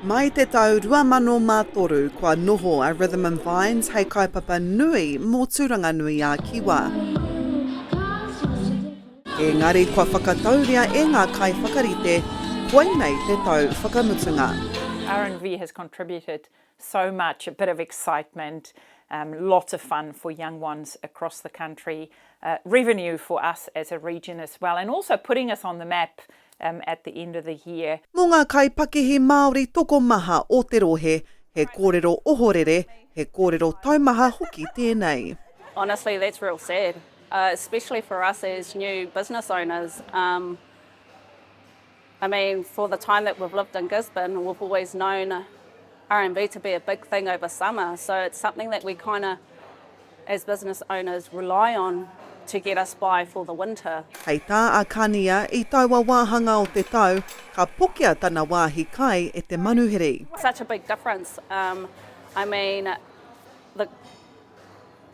Mai te tau 2003 kua noho a Rhythm and Vines hei kaupapa nui mō Tūranga-nui-ā-Kiwa. Engari kua whakatauria e ngā kaiwhakarite, koinei te tau whakamutunga. RNV has contributed So much, a bit of excitement, um, lots of fun for young ones across the country, uh, revenue for us as a region as well, and also putting us on the map um, at the end of the year. Mō ngā kaipakihi Māori tokomaha o te rohe, he kōrero ohorere, he kōrero taumaha hoki tēnei. Honestly, that's real sad, uh, especially for us as new business owners. Um, I mean for the time that we've lived in Gisborne we've always known RMB to be a big thing over summer so it's something that we kind of as business owners rely on to get us by for the winter. Hei tā a Kania, i taua wāhanga o te tau, ka pokea tana wāhi kai e te manuhiri. Such a big difference, um, I mean the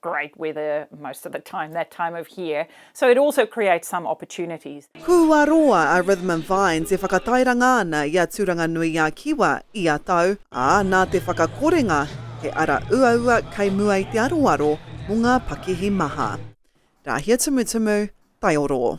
great weather most of the time that time of year so it also creates some opportunities. Kua roa a Rhythm and Vines e whakatairanga ana i a Tūranga-nui-a-Kiwa ia tau, ā, nā te whakakorenga he ara uaua kei mua i te aroaro mō ngā pakihi maha. Rāhia Tumutumu, Taiorō.